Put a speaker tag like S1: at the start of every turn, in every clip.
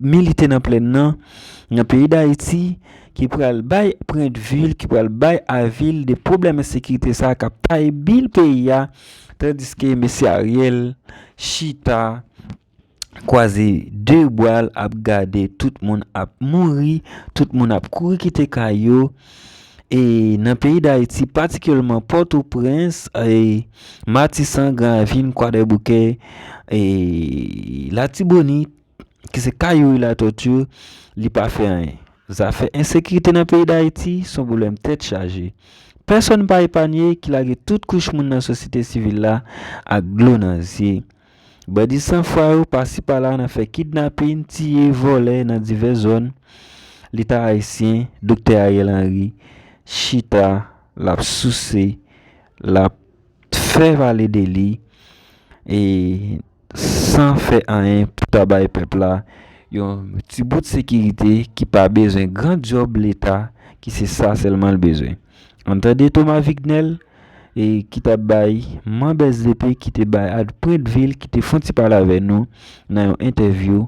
S1: milite nan plenn nan, nan peyi Dayiti, ki pral bay pwendvil, ki pral bay avil de pwoblèm ensekirite sa a k ap taye bil peyi a, tandiske mesye Ariel chita kwaze de bra l ap gade tout moun ap mouri, tout moun ap kouri kite kay yo. E nan peyi Dayiti, patikilyèman Pòtoprens, Matisan, Gran Ravin, Kwadèboukè, Latibonit, ki se ka Youri Latorture li pa fè anyen. Zafè ensekirite nan peyi Dayiti s on pwoblèm tèt chaje. Pèsonn pa epanye ki lage tout kouch moun nan sosyete sivil la ak dlo nan zye. Bandi san fwa yo pasi pala nan fè kidnapin, tiye, vòlè nan divès zòn Leta ayisyen, Doktè Ariel Henry, chita l ap souse, l ap fè pale de li. san fè anyen pou ta bay pèp la yon ti bout sekirite ki pa bezwen gran dyòb leta ki se sa sèlman l bezwen. Ann tande Thomas Vignel ki t ap bay manb sdp ki te bay ad pwendvi l ki te fon ti pale avè nou nan yon entèvyou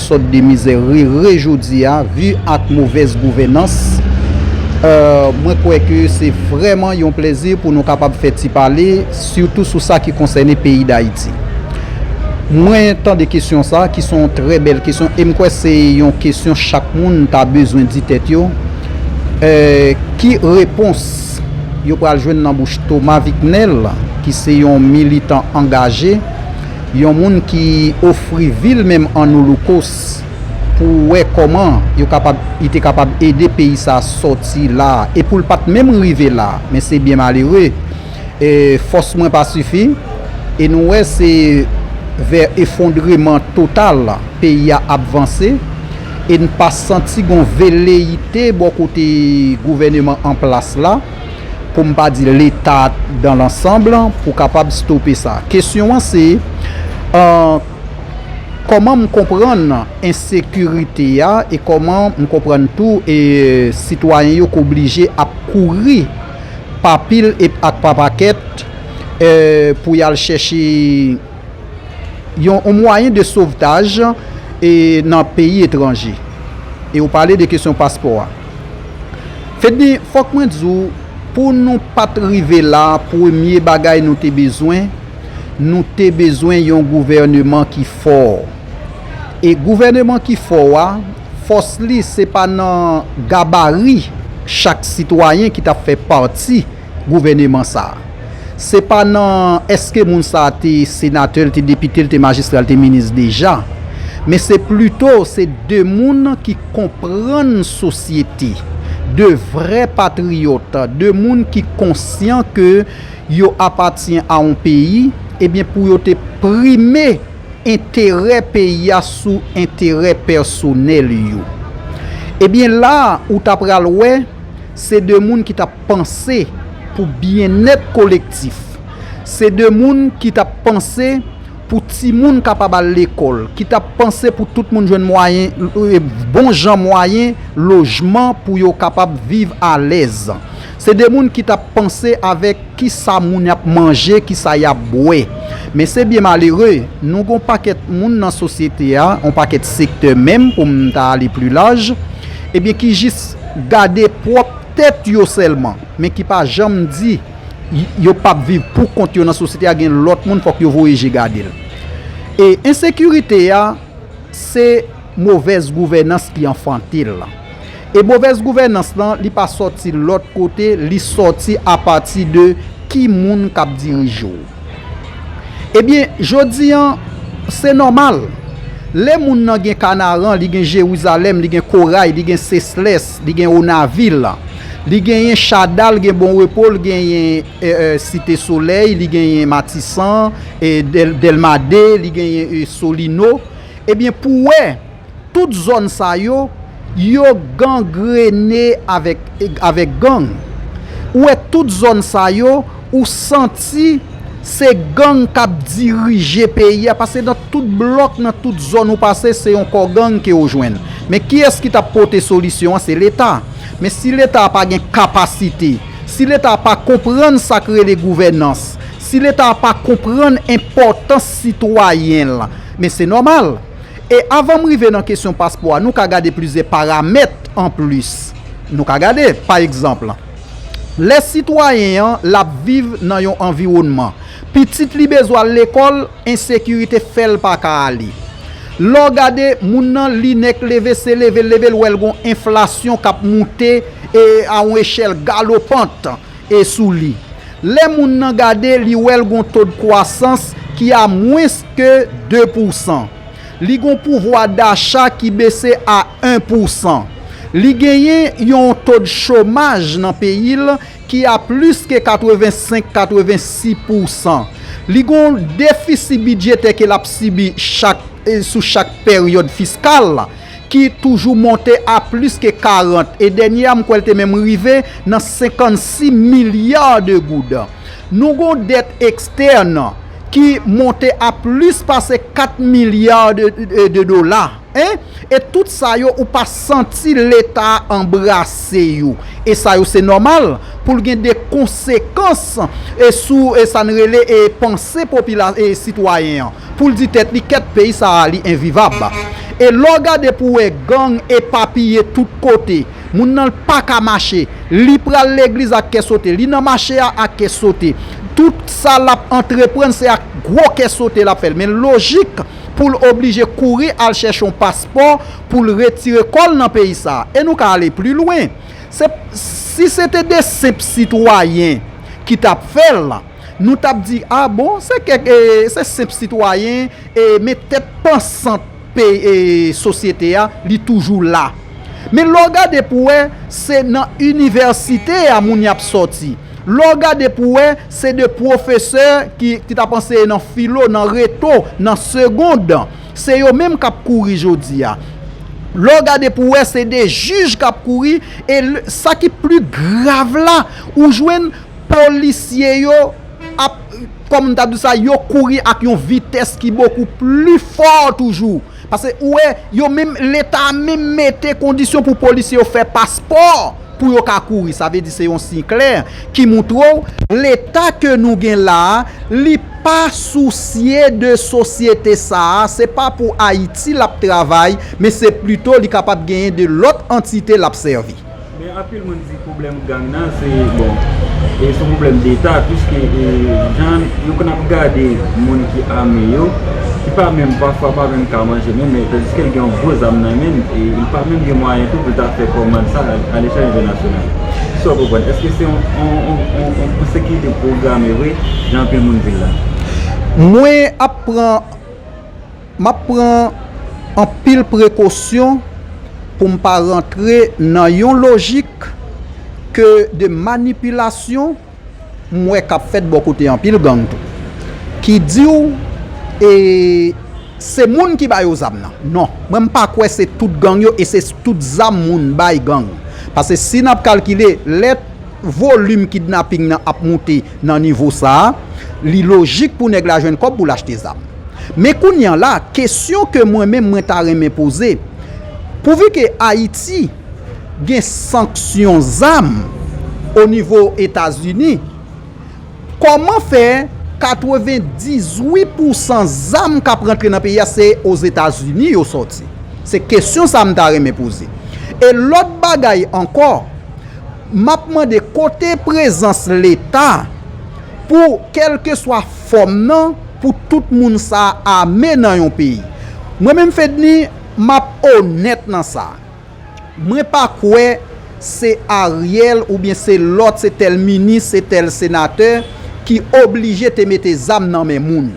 S2: Sot de mizè rere jodia vu ak movèz gouvenans mwen kwè ke se vrèman yon plèzi pou nou kapab fè ti pale sitou sou sa ki konsène peyi dayiti. Mwen tande kesyon sa ki se yon trè bèl kesyon e m kwè se yon kesyon chak moun ta bezwen di tèt yo ki repons yo pral jwenn nan bouch Thomas Vicknel ki se yon militan angaje Yon moun ki ofri vi l menm an oloukost pou wè kòman yo kapab li te kapab ede peyi sa sòti la e pou l pa t menm rive la men se byen malere e fòs mwen pa sifi e nou wè se vè efondreman total peyi a ap vanse e n pa santi gon veleyite bò kote gouvèneman an plas la. pou m pa di Leta dan lansanb, pou kapab stope sa. Kesyon an se, kòman m konprann ensekirite a e kòman m konprann tou sitwayen yo k oblije ap kouri pa pil e ak pa pakèt pou y al chèche yon mwayen de sovtaj nan peyi etranje. E ou pale de kesyon paspò a. Fedne fòk mwen di w pou nou pat rive la premye bagay nou te bezwen nou te bezwen yon gouvèneman ki fò e gouvèneman ki fò a fòs li se pa nan gabari chak sitwayen ki ta fè pati gouvèneman sa a. Se pa nan èske moun sa a te senatè, l te depite, l te majistra, l te minis deja, men se plito se de moun ki konprann sosyete, de vrè patriyòt, de moun ki konsyan ke yo apatyen a yon peyi, ebyen pou yo te prime enterè peyi a sou enterè pèsonèl yo. Ebyen la ou ta pral wè. Se de moun ki t ap panse pou byennèt kolektif. Se de moun ki t ap panse pou timoun kapab al lekòl, ki t ap panse pou tout moun jwenn mwayen, bon jan mwayen lojman pou yo kapab viv alèz. Se de moun ki t ap panse avèk ki sa moun ap manje, ki sa y ap bwè. Men se byen malere, nou gen yon pakèt moun nan sosyete a, yon pakèt sektè menm pou m ta ale pli laj, ebyen ki jis. gade pwòp tèt yo sèlman, men ki pa janm di yo pap viv pou kont yo nan sosyete a gen lòt moun fòk yo voye je gade l. E ensekirite a se movèz gouvènans ki anfante l. E movèz gouvènans lan li pa sòti lòt kote, li sòti apati de ki moun k ap dirije w. Ebyen, jodi an, se nòmal. Lè moun nan gen Kanaran, li gen Jerizalèm, li gen Koray, li gen Seslès, li gen Onavil, li genyen Chada, l gen Bon Repo, l genyen Site Solèy, li genyen Matisan, Dèlma 2, li genyen Solino, ebyen pou wè. Tout zòn sa yo, yo gangrene avèk gang. Ou wè tout zòn sa yo, ou santi se gang k ap dirije peyi a, pase nan tout blòk, nan tout zòn ou pase, se yon kò gang ke ou jwenn. Men kiyès ki t ap pote solisyon an? Se Leta. Men si Leta a pa gen kapasite, si Leta a pa konprann sa k rele gouvènans, si Leta a pa konprann enpòtans sitwayen l, men se nòmal. E avan m rive nan kesyon paspò a, nou ka gade plizyè paramèt anplis. Nou ka gade, pa egzanp, lè sitwayen an l ap viv nan yon anviwònman, pitit li bezwen al lekòl, ensekirite fè l pa ka ale. Lè w gade, moun nan li nèk leve, se leve l leve l wè l gen yon enflasyon k ap moute a yon echèl galopant. e sou li. Lè moun nan gade li wè l gon tod kwasans ki a mwens ke 2 pousan. Li gon pouvwa dacha ki bese a 1 pousan. Li genyen yon tod chomaj nan peyi l ki a plis ke 85, 86 pousan. Li gon defisi bidjetè ke l ap sibi chak sou chak peryod fiskal. ki toujou monte a plis ke 40, e dènye a m kwè l te menm rive nan 56 milya de goud. Nou gen yon dèt ekstèn ki monte a plis pase 4 milya de dola, en, e tout sa yo ou pa santi Leta a anbrase yo. E sa yo se nòmal pou l gen de konsekans sou sa n rele panse sitwayen an. Poul di tèt li kèt peyi sa a li envivab e lèw gade pou wè gang epapiye tout kote moun nan paka mache li pral legliz ak kè sote li nan mache a ak kè sote tout sa lap antreprann se ak gwo kè sote lap fèl men lojik poul oblije kouri al chèche yon paspò poul retire kòl nan peyi sa e nou ka ale pli lwen se si se te de senp sitwayen ki tap fèl. Nou tap di a bon se kèk e se senp sitwayen e men tèt pansant pey e sosyete a li toujou la. Men lè w gade pou wè se nan inivèsite a moun y ap sòti. Lè w gade pou wè se de pwofesè ki ki t ap anseye nan filo, nan reto, nan segond se yo menm k ap kouri jodi a. Lè w gade pou wè se de jij k ap kouri e sa ki pli grav la ou jwenn Polisye yo ap, kòm m ta di w sa, yo kouri ak yon vitès ki bokou pli fò toujou. Pase ou wè, yo menm, Leta a menm mete kondisyon pou polisye yo fè paspò pou yo ka kouri. Sa vle di se yon siy klè ki montre w Leta ke nou gen la a, li pa sousye de sosyete sa a. Se pa pou Ayiti l ap travay, men se plito li kapab genyen de lòt antite l ap sèvi. Men anpil moun
S1: di pwoblèm gang nan se bon e son pwoblèm deta piske jan yo konn ap gade moun ki ame yo ki pa menm pafwa pa menm ka manje menm men tandiske l gen yon gwo zam nan men l e li pa menm gen mwayen tou pou l ta fè kòmand sa alechèl entènasyonal ki sa w konprann eske se yon ensekirite pwograme vre jan anpil moun di l la? Mwen
S2: ap pran M ap pran anpil prekosyon pou m pa rantre nan yon lojik ke de manipilasyon m wè k ap fèt bò kote anpil gang tou ki di w e se moun ki ba yo zam nan. Non, mwen m pa kwè se tout gang yo e se tout zam moun bay gang. Pase si n ap kalkile lè volim kidnaping nan ap moute, Nan nivo sa a, li lojik pou nèg la jwenn kòb pou l achte zam. Men kounye an la, kesyon ke mwen menm mwen ta renmen poze, pouvi ke Ayiti gen sanksyon zam o nivo Etazini, kòman fè 98 pou san zam k ap rantre nan peyi a se Ozetazini yo sòti? Se kesyon sa a m ta renmen poze. E lòt bagay ankò. Map mande kote prezans leta pou kelkeswa fòm nan pou tout moun sa ame nan yon peyi. Mwen menm Fedny map onèt nan sa. Mwen pa kwè se Ariel oubyen se lòt se tèl minis se tèl senatè ki oblije te mete zam nan men moun.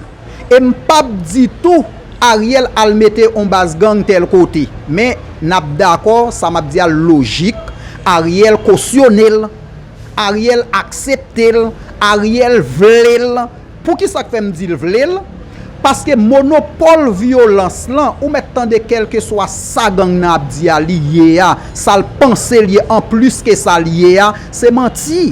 S2: E m p ap di tou Ariel al mete on baz gang tèl kote. Men, n ap dakò, sa m ap di a lojik, Ariel kosyone l, Ariel aksepte l, Ariel vle l. Pou ki sa k fè m di l vle l? Paske monopòl vyolans lan, ou mèt tande kèlkeswa sa gang nan ap di a li ye a, sa l panse l ye anplis ke sa l ye a, se manti.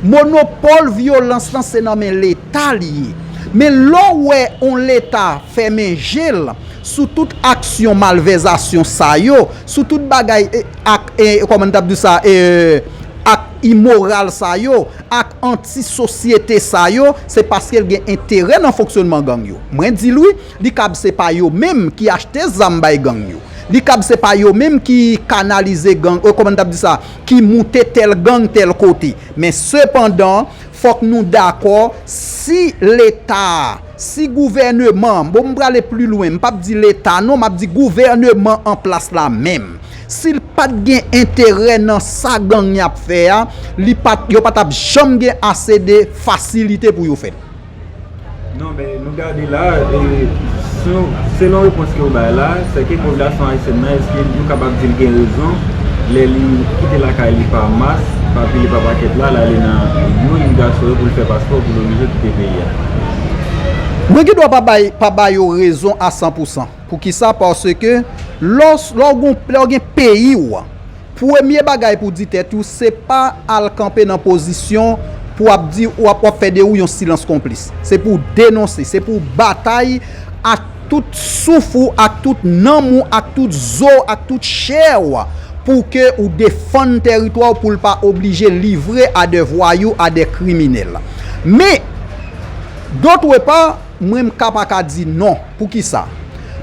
S2: Monopòl vyolans lan se nan men leta li ye. Men lè w wè on leta fèmen je l sou tout aksyon malvèzasyon sa yo, sou tout bagay ak kòman n t ap di sa e ak imoral sa yo, ak anti sosyete sa yo, se paske l gen enterè nan fonksyònman gang yo. Mwen di l wi, li kab se pa yo menm ki achte zam bay gang yo. Li kab se pa yo menm ki kanalize gang, kòman n t ap di sa? ki moute tèl gang tèl kote. Men sepandan, fòk nou dakò, si Leta a, si gouvèneman an, bon m prale pli lwen, m pap di Leta non, m ap di gouvèneman an plas la menm, si l pa t gen enterè nan sa gang y ap fè a, li pa t, yo pa t ap janm gen ase de fasilite pou yo fè l. Non
S1: men nou gade la, selon repons ke ou bay la, se ke popilasyon ayisyèn nan eske nou kapab di li gen rezon lè li kite lakay li pa mas, pa pile pa pakèt la, la li nan yon imigrasyon yo pou li fè paspò pou li oblije kite peyi a?
S2: Mwen gen dwa pa ba yo rezon a san pou san. Pou ki sa? Paske lè ou gen peyi ou. Premye bagay pou di tèt ou se pa al kanpe nan pozisyon pou ap di ou ap wap fè de ou yon silans konplis. Se pou w denonse, se pou w batay ak tout souf ou, ak tout nanm ou, ak tout zo w, ak tout chè w pou ke ou defann tèritwa w pou l pa oblije livre a de vwayou, a de kriminèl. Men, dotre pa. Mwen m ka pa ka di non. Poukisa?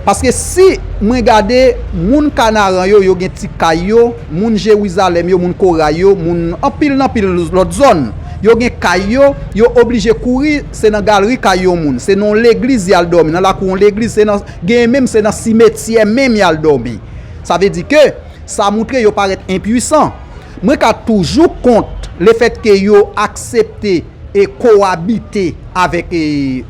S2: Paske si mwen gade moun Kanaran yo, yo gen ti kay yo, moun Jerizalèm yo, moun Koray yo, moun anpil nan anpil lòt zòn, yo gen kay yo, yo oblije kouri, se nan galri kay yon moun, se nan yon legliz y al dòmi, nan lakou yon legliz, se nan, genyen menm se nan simetyè menm y al dòmi. Sa vle di ke sa moutre yo parèt enpuisan. Mwen ka toujou kont lefètke yo aksepte. e kowabite avèk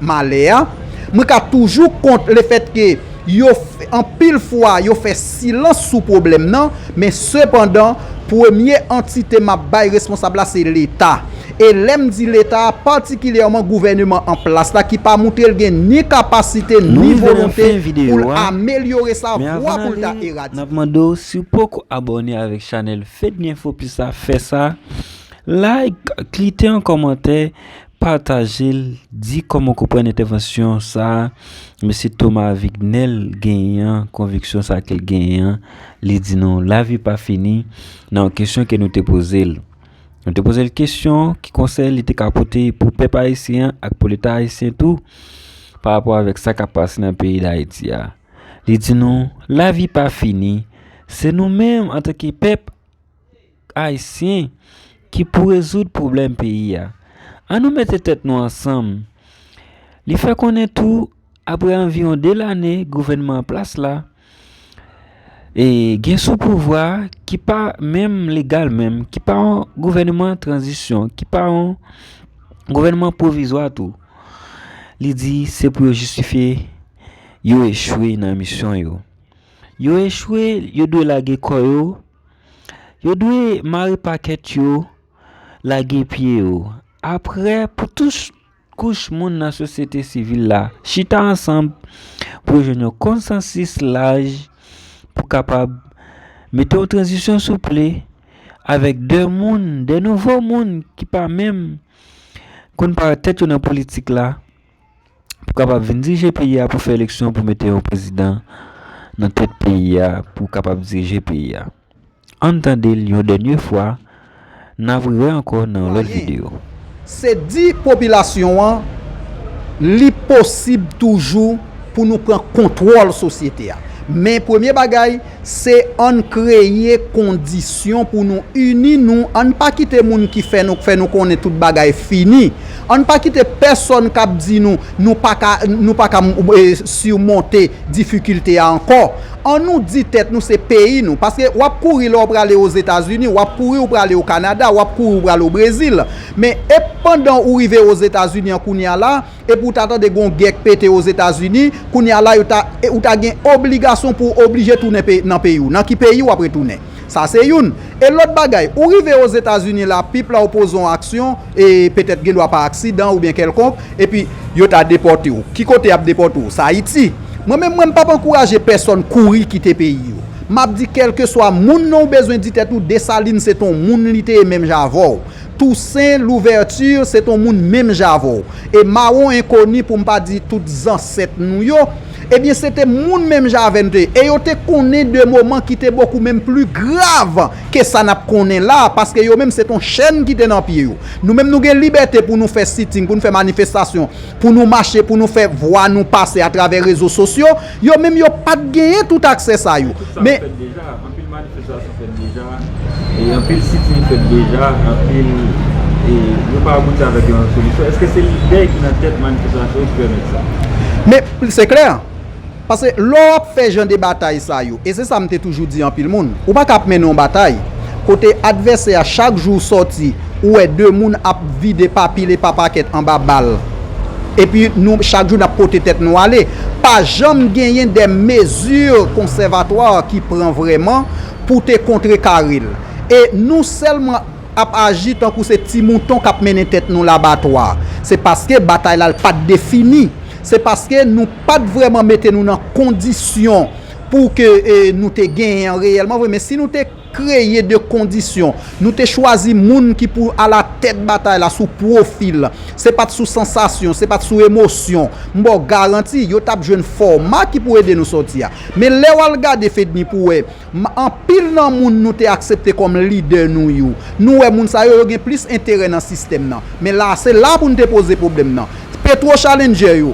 S2: malè a, mwen ka toujou kont lefèt ke yo anpil fwa yo fè silans sou pwoblèm nan, men sepandan premye antite m ap bay responsab la se Leta. E lè m di Leta a, patikilyèman gouvèneman an plas la ki pa moutre l gen ni kapasite ni volonte pou l amelyore sa vwa pou l ta
S1: eradike. Like klite an kòmantè patajel di kòman w konprann entèvansyon sa mesye Thomas Avignel genyen an konviksyon sa ke l genyen an li di nou lavi pa fini nan yon kesyon ke nou te poze l nou te poze l kesyon ki konsèy li te ka pote pou pèp ayisyen an ak pou leta ayisyen tou pa rapò avèk sa k ap pase nan peyi dayiti a li di nou lavi pa fini se nou menm antanke pèp Ayisyen ki pou rezoud pwoblèm peyi a. An nou mete tèt nou ansanm. Li fè konnen tou aprè anviwon 2 lane gouvènman an plas la, e gen sou pouvwa a ki pa menm legal menm, ki pa yon gouvènman tranzisyon, ki pa yon gouvènman pwovizwa tou. Li di se pou yo jistifye yo echwe nan misyon yo. Yo echwe, yo dwe lage kò yo. Yo dwe mare pakèt yo, lage pye yo. Apre, pou tout kouch moun nan sosyete sivil la chita ansanm pou yo jwenn yon konsansis laj pou kapab mete yon tranzisyon souple avèk de moun, de nouvo moun ki pa menm konn parèt tèt yo nan politik la. pou kapab vin dirije peyi a pou fè eleksyon pou mete yon prezidan nan tèt peyi a pou kapab dirije peyi a ann tande l yon dènye fwa nap re ankò nan yon lòt video. Se di
S2: popilasyon an li posib toujou pou nou pran kontwòl sosyete a men premye bagay Se ann kreye kondisyon pou nou ini nou, ann pa kite moun ki fè nou fè nou konnen tout bagay fini, ann pa kite pèsòn kap di nou nou paka nou paka simonte difikilte a ankò, an nou di tèt nou se peyi nou, paske wap kouri lè w prale o Zetazini, wap kouri ou prale o Kanada, wap kouri ou prale o Brezil, men ep pandan ou rive o Zetazini an kounya la. Epi ou ta tande gon gè k pete Ozetazini, kounye a la yo ta, ou ta gen obligasyon pou w oblije tounen pe, nan peyi w. Nan ki peyi w ap retounen? Sa se youn. E lòt bagay, ou rive Ozetazini la, pip la ou poze yon aksyon, e petèt gen dwa pa aksidan oubyen kèlkonk, epi yo ta depòte w. Ki kote y ap depòte w? Sa Ayiti. Mwen menm, mwen m p ap ankouraje pèsonn kouri kite peyi yo. M ap di kèlkeswa moun nan ou bezwen di tèt ou Desalin se te yon moun li te ye menm jan avè w. Toussaint Louverture se t on moun menm jan avè w, e mawon enkoni pou m pa di tout zansèt nou yo, ebyen se te moun menm jan avè n te ye, e yo te konnen de moman ki te bokou menm pli grav ke sa n ap konnen la a, paske yo menm se t on chèn ki te nan pye yo. Nou menm nou gen libète pou nou fè sitting, pou nou fè manifestasyon, pou nou mache, pou nou fè vwa nou pase atravè rezo sosyo, Yo menm yo pa t genyen tout aksè sa yo. Tout sa fèt deja, anpil
S1: manifestasyon fèt deja, anpil sitin fèt deja, anpil, e yo pa abouti avèk yon solisyon. Eske se lide ki nan tèt manifestasyon yo ki pèmèt sa? Men, se
S2: klè, pase lè w ap fè jan de batay sa yo, e se sa m te toujou di anpil moun, ou pa ka ap mennen yon batay kote advèsè a chak jou sòti, Ou wè 2 moun ap vide pa pil e pa pakèt anba bal epi nou chak jou nap pote tèt nou ale. Pa janm genyen de mezi konsèvatwa ki pran vrèman pou te kontre kare l. E nou sèlman ap aji tankou se ti mouton kap mennen tèt nou labatwa. Se paske batay la pat defini. Se paske nou pat vrèman mete nou nan kondisyon pou ke nou te genyen an reyèlman vre. Men si nou te. Kreye 2 kondisyon. Nou te chwazi moun ki pou a la tèt batay la sou pwofil. Se pat sou sansasyon, se pat sou emosyon. M ba w garanti, yo tap jwenn fòma ki pou ede nou sòti a. Men lè w al gade Fedni pou wè anpil nan moun nou te aksepte kòm lidè nou yo, nou wè moun sa yo, yo gen plis enterè nan sistèm nan. Men la, se la pou n te poze pwoblèm nan. Petwo Challenger yo,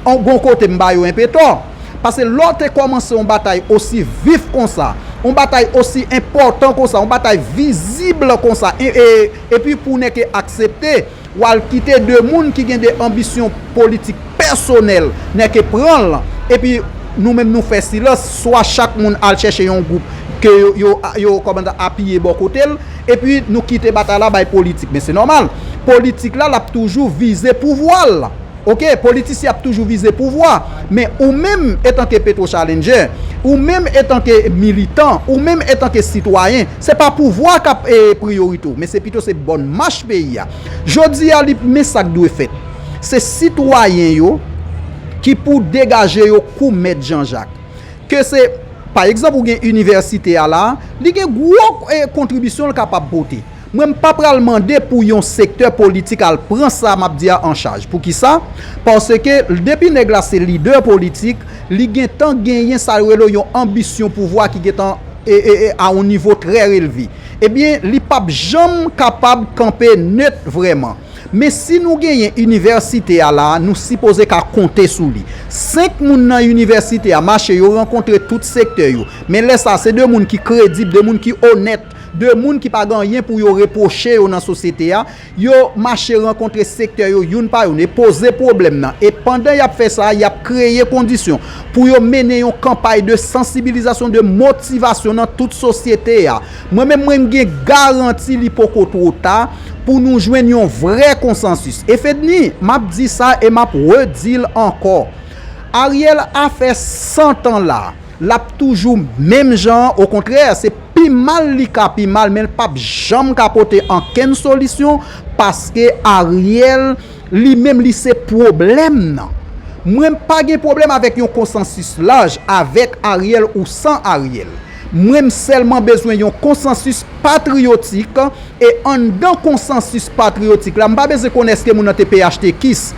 S2: gon kote m ba yo enpe tò. Pase lè w te kòmanse yon batay osi vif konsa, yon batay osi enpòtan konsa, yon batay vizib konsa, epi pou nèg yo aksepte, w al kite 2 moun ki gen 2 anbisyon politik pèsonèl, nèg yo pran l, epi nou menm nou fè silans, swa chak moun al chèche yon gwoup ke yo apiye bò kote l, epi nou kite batay la bay politik. Men se nòmal, politik la l ap toujou vize pouvwa l. Ok, politisyen ap toujou vize pouvwa, men ou menm etanke Petro Challenger, ou menm etanke militan, ou menm etanke sitwayen, se pa pouvwa k ap priyorite w, men se pito se bòn mach peyi a. Jodi a li men sa k dwe fèt. Se sitwayen yo ki pou degaje yo kou mèt Jan Jak. Ke se, pa egzanp ou gen inivèsite a la, li gen gwo kontribisyon l kapab pote. Mwen m pa pral mande pou yon sektè politik al pran sa map di a an chaj. Poukisa? Paske depi nèg la se lidè politik, li gentan genyen sa yo rele yon anbisyon pouvwa ki gentan a yon nivo trè relve. Ebyen, li pap janm kapab kanpe nèt vrèman. Men si nou genyen inivèsite a la, nou sipoze ka konte sou li. 5 moun nan inivèsite a mache, yo rankontre tout sektè yo. Men lè sa, se 2 moun ki kredib, 2 moun ki onèt. De moun ki pa gen anyen pou yo repwoche yo nan sosyete a, yo mache rankontre sektè yo youn pa youn e poze pwoblèm nan. E pandan y ap fè sa, y ap kreye kondisyon pou yo mennen yon kanpay de sansibilizasyon, de motivasyon nan tout sosyete a. Mwen menm, mwen gen garanti li poko two ta pou nou jwenn yon vrè konsansis. E Fednie, m ap di sa e m ap redi l ankò, Ariel a fè 100 tan la. Lap toujou menm jan an okontrè se pi mal li ka pi mal menl pap janm ka pote ankenn solisyon paske Ariel li menm li se pwoblèm nan mwen pa gen pwoblèm avèk yon konsansis laj avèk Ariel ou san Ariel mwen m sèlman bezwen yon konsansis patriyotik E anndan konsansis patriyotik la, m pa bezwen konnen èske moun nan te phtkis,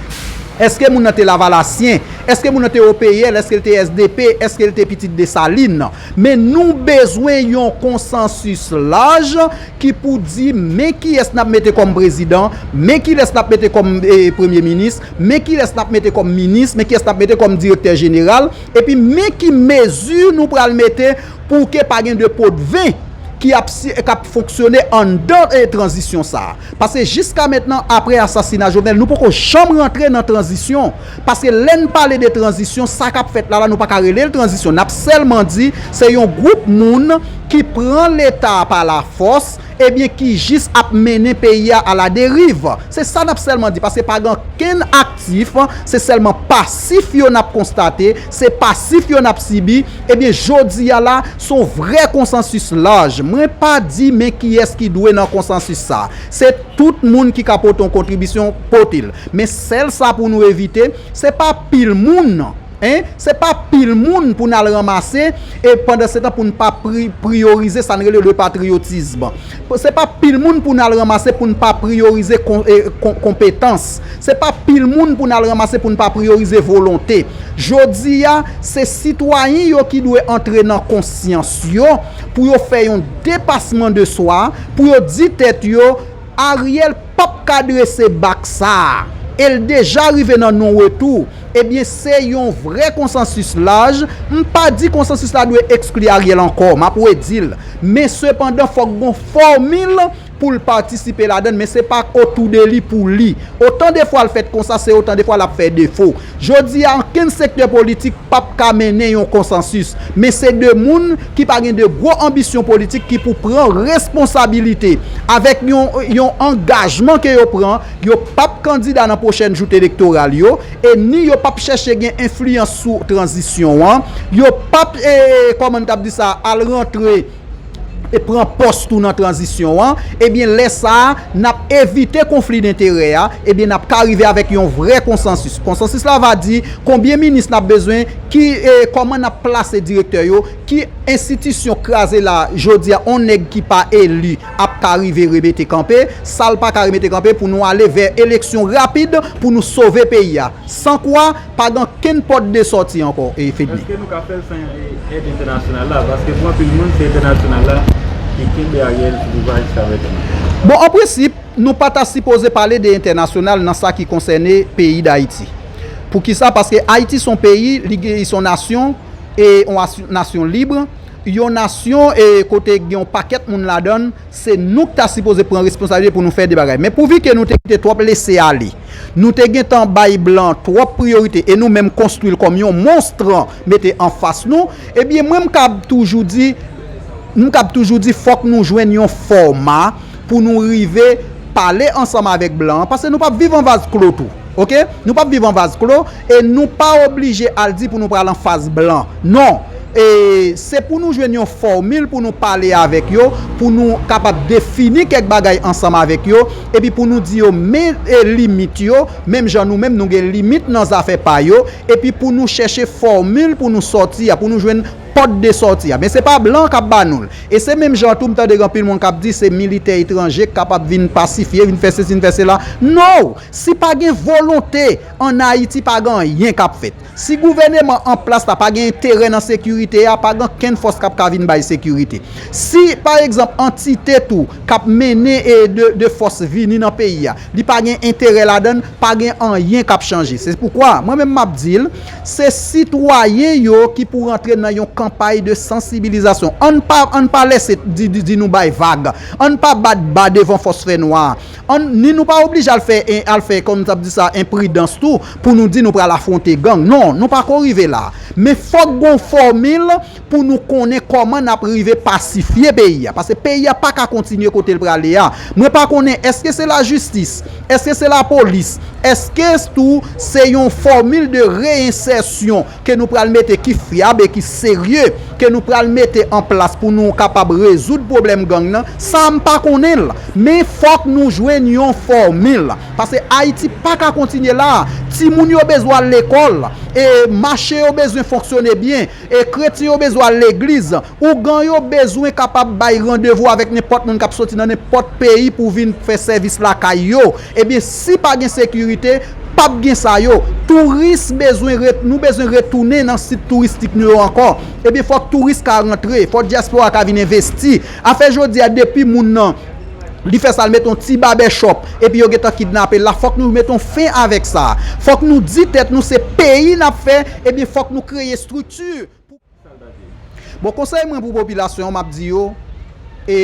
S2: èske moun nan te lavalasyen, èske moun nan te OPL, èske l te sdp, èske l te pitit Desalin. Men nou bezwen yon konsansis laj ki pou di men kiyès n ap mete kòm prezidan, men kilès n ap mete kòm premye minis, men kilès n ap mete kòm minis, men kiyès n ap mete kòm direktè jeneral, epi men ki mezi nou pral mete Pou ke pa gen 2 potven ki ap k ap fonksyone anndan tranzisyon sa a. Paske jiska mentnan apre asasina Jovenel nou poko janm rantre nan tranzisyon. Paske lè n pale de tranzisyon sa k ap fèt la la nou pa ka rele l tranzisyon. N ap sèlman di se yon gwoup moun ki pran leta a pa lafòs, Ebyen ki jis ap mennen peyi a ala deriv. Se sa nap sèlman di paske pa gen ankenn aktif, se sèlman pasif yo nap konstate, se pasif yo nap sibi, ebyen jodi a la son vrè konsansis laj, mwen pa di men kiyès ki dwe nan konsansis sa, se tout moun ki ka pote yon kontribisyon pote l, men sèl sa pou nou evite, se pa pil moun. Hein? Se pa pil moun pou n al ranmase e pandansetan pou n pa priyorize sa n rele le patriotisme. Se pa pil moun pou n al ranmase pou n pa priyorize konpetans. Se pa pil moun pou n al ranmase pou n pa priyorize volonte. Jodi a, se sitwayen yo ki dwe antre nan konsyans yo pou yo fè yon depasman de swa, pou yo di tèt yo, Ariel pap ka drese bak sa a, e l deja rive nan non retou, ebyen se yon vrè konsansis laj, m pa di konsansis la dwe ekskli Ariel ankò, m ap redi l, men sepandan fòk gon fòmil pou l patisipe ladann, men se pa otou de li pou li. Otan de fwa l fèt konsa, se otan de fwa l ap fè defo. Jodi a, ankenn sektè politik p ap ka mennen yon konsansis. Men se de moun ki pa gen de gwo anbisyon politik ki pou pran responsabilite. Avèk yon angajman ke yo pran, yo p ap kandida nan pwochèn joute elektoral yo, e ni yo p ap chèche gen enfliyans sou tranzisyon an, yo p ap, kòman n kab di sa, al rantre. e pran pòs tou nan tranzisyon an, ebyen lè sa a, n ap evite konfli denterè a, ebyen n ap ka rive avèk yon vrè konsansis. Konsansis la va di, konbyen minis n ap bezwen, ki, kòman n ap plase direktè yo, ki enstitisyon kraze la jodi a yon nèg ki pa eli ap ka rive remete kanpe, sa l pa ka remete kanpe pou nou ale vè eleksyon rapid pou nou sove peyi a. San kwa. Pa gen okenn pòt de sòti ankò e fedmi. Eske nou ka fèl san
S1: èd entènasyonal la? Paske pou anpil moun se entènasyonal la ki kenbe Ariel sou pouvwa jiska
S2: prezan. Bon an prensip nou pa ta sipoze pale de entènasyonal nan sa ki konsène peyi dayiti. Poukisa? Paske ayiti son peyi, li gen son nasyon e yon nasyon libre, yon nasyon e kote gen yon pakèt moun ladann, Se nou k ta sipoze pran responsabilite pou nou fè de bagay. Men pouvi ke nou te kite twòp lese ale, nou te gentan bay blan twòp priyorite e nou menm konstwi l kòm yon monstr mete anfas nou, ebyen mwen m kab toujou di, m kab toujou di fòk nou jwenn yon fòma pou nou rive pale ansanm avèk blan an, paske nou pap viv an vaz klo tou. Ok nou pap viv an vaz klo e nou pa oblije al di pou nou pral an faz blan non e se pou nou jwenn yon fòmil pou nou pale avèk yo pou nou kapab defini kèk bagay ansanm avèk yo epi pou nou di yo men limit yo menm jan nou menm nou gen limit nan zafè pa yo epi pou nou chèche fòmil pou nou sòti a pou nou jwenn pòt de sòti a men se pa blan kap ba nou l e se menm jan tou m tande gen anpil moun kap di se militè etranje k kapab vin pasifye vin fè sesi vin fè sela no Si pa gen volonte, an Ayiti pa gen anyen kap fèt. Si gouvèneman an plas la pa gen enterè nan sekirite a, pa gen ankenn fòs kap ka vin bay sekirite. Si, pa egzanp, antite tou kap mennen e de fòs vini nan peyi a, li pa gen enterè ladan l, pa gen anyen kap chanje. Se poukwa, mwen menm map di l, se sitwayen yo ki pou rantre nan yon kanpay de sansibilizasyon. Ann pa, ann pa lèse di nou bay vag. Ann pa bat ba devan fòs fè nwa a. An ni nou pa oblije al fè en al fè kòm tap di sa enpridans tou pou nou di nou pral afwonte gang non nou pako rive la men fòk gon fòmil pou nou konnen kòman nap rive pasifye peyi a paske peyi a paka kontinye kotel prale a mwen pa konnen eske se lajistis eske se lapolis eske tou se yon fòmil de reyensèsyon ke nou pral mete ki fyab e ki serye ke nou pral mete an plas pou nou kapab rezoud pwoblèm gang nan, sa a m pa konnen l. Men fòk nou jwenn yon fòmil. Pase Ayiti pa ka kontinye la a. Timoun yo bezwen al lekòl. E mache yo bezwen fonksyone byen. E kretyen yo bezwen al legliz. Ougan yo bezwen kapab bay randevou avèk nenpòt moun k ap soti nan nenpòt peyi pou vin fè sèvis lakay yo. Ebyen si pa gen sekirite, pap gen sa yo. Touris bezwen ret, nou bezwen retounen nan sit touristik nou yo ankò. Ebyen fòk touris ka rantre, fòk dyaspora ka vin envesti. Afè jodi a depi moun nan li fè sa l mete yon ti babèchòp epi yo gentan kidnape l la, fòk nou mete yon fen avèk sa. Fòk nou di tèt nou se peyi n ap fè, ebyen fòk nou kreye estrikti. Pou. Bon konsèy mwen pou popilasyon an map di yo e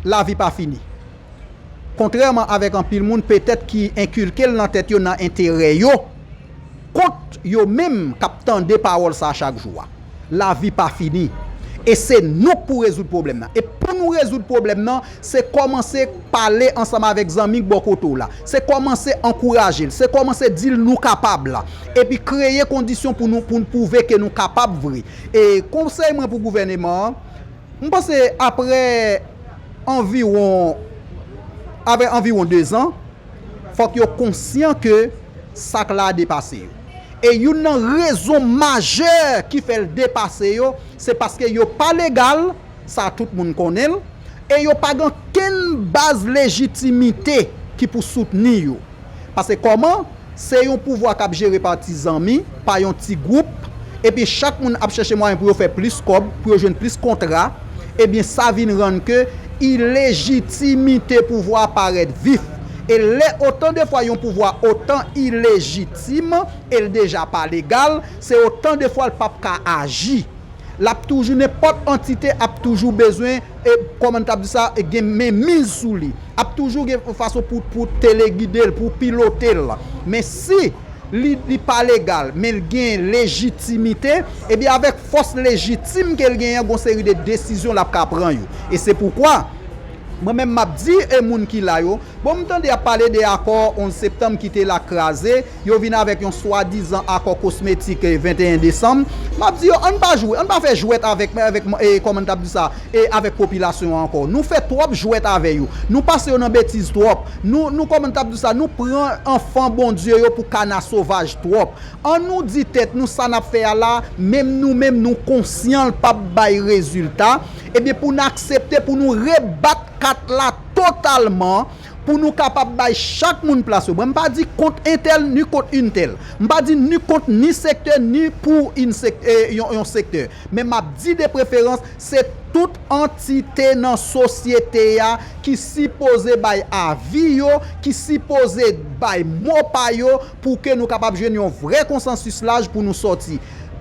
S2: lavi pa fini kontrèman avèk anpil moun petèt ki enkilkel nan tèt yo nan enterè yo kont yo menm kap tande pawòl sa chak jou a lavi pa fini e se nou k pou rezoud pwoblèm nan e pou nou rezoud pwoblèm nan Se kòmanse pale ansanm avèk zanmi k bò kote w la. Se kòmanse ankouraje l. Se kòmanse di l nou kapab la. Epi kreye kondisyon pou nou pou n pwouve ke nou kapab vre. E konsèy mwen pou gouvèneman an, m panse aprè anviwon aprè anviwon dezan, fòk yo konsyan ke sa k la a depase yo. E youn nan rezon majè ki fè l depase yo, se paske yo pa legal, sa tout moun konnen l, e yo pa gen okenn baz lejitimite ki pou soutni yo. Pase kòman, se yon pouvwa k ap jere pa ti zanmi, pa yon ti gwoup, epi chak moun ap chèche mwayen pou yo fè plis kòb, pou yo jwenn plis kontra, ebyen sa vin rann ke ilejitimite pouvwa a parèt vif. E lè otan de fwa yon pouvwa otan ilejitim, e l deja pa legal, se otan de fwa l p ap ka aji. lap toujou nenpòt antite ap toujou bezwen e kòman tab di sa gen men miz sou li ap toujou gen yon fason pou pou telegidel pou pilotel men si li li pa legal menl gen lejitimite ebyen avèk fòs lejitim kel genyen gon seri de desizyon lap ka pran yo e se poukwa mwen menm map di e moun ki la yo bon mtande yap pale de akò 11 septanm kite la kraze. Yo vin avèk yon swadizan akò kosmetik 21 desanm. M ap di yo, ann pa jwe, ann pa fè jwèt avèk, kòman n t ap di sa, avèk popilasyon an ankò. Nou fè twòp jwèt avè yo. Nou pase yo nan betiz twòp. Nou, kòman n t ap di sa, nou pran anfan Bondye yo pou kana sovaj twòp. An nou di tèt nou sa n ap fè a la, menm nou menm nou konsyan l p ap bay rezilta, ebyen pou n aksepte pou nou rebat kat la totalman, Pou nou kapab bay chak moun plas yo. Mwen m pa di kont entèl ni kont untèl. M pa di ni kont ni sektè ni pou yn sektè yon sektè. Men m ap di de preferans se tout antite nan sosyete a ki sipoze bay avi yo, ki sipoze bay mo pa yo pou ke nou kapab jwenn yon vrè konsansis laj pou nou sòti.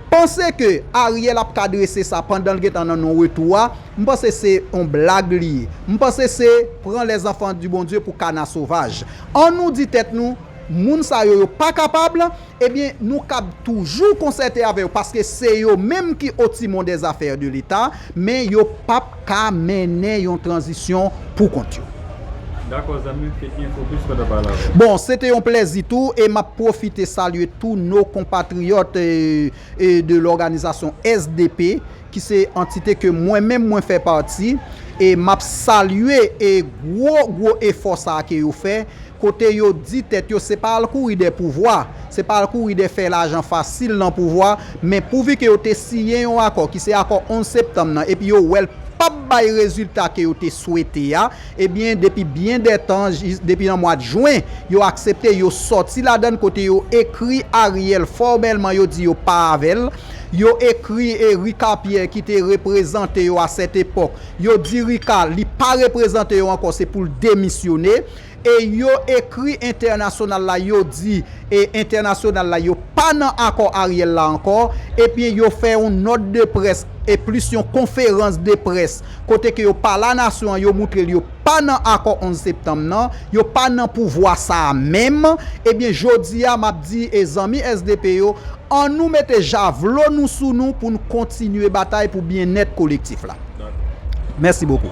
S2: Panse ke Ariel ap ka drese sa pandan l gentan nan non retou a, M panse se on blag li ye. M panse se pran les enfants du Bondye pou kana sovaj. An nou di tèt nou, moun sa yo yo pa kapab, ebyen nou kab toujou konsète avè yo paske se yo menm ki au timon des affaires de l'Etat, men yo pap ka mennen yon tranzisyon pou kont yo. Dakò
S3: zanmi m, Fednie Focus kontan pale avè w. Bon, se te yon
S2: plèzi tou e m ap pwofite salye tou no konpatriyòt de lòganizasyon sdp ki se antite ke mwen menm mwen fè pati, e m ap salye e gwo gwo efò sa a ke yo fè, kote yo di tèt yo se pa al kouri dè pouvwa, se pa al kouri dè fè lajan fasil nan pouvwa, men pouvi ke yo te siyen yon akò, ki se akò 11 septanm nan, epi yo wè l p ap bay rezilta ke yo te swete a, Ebyen depi byen dè tan, depi nan mwad jwen, yo aksepte yo sòti ladann kote yo ekri Ariel fòmèlman yo di yo pa avèl, yo ekri e Ricard Pierre ki te reprezante yo a sèt epòk, yo di Ricard li pa reprezante yo ankò se poul demisyone e yo ekri entènasyonal la yo di e entènasyonal la yo pa nan akò Ariel la ankò ebyen yo fè yon nòt de près e plis yon konferans de près kote ke yo pa la nasyon an, yo moutre l yo pa nan akò 11 septanm nan, yo pa nan pouvwa sa a menm, ebyen jodi a m ap di e zanmi sdp yo, an nou mete javlo nou sou nou pou n kontinye batay pou byennèt kolektif la. Mèsi bokou.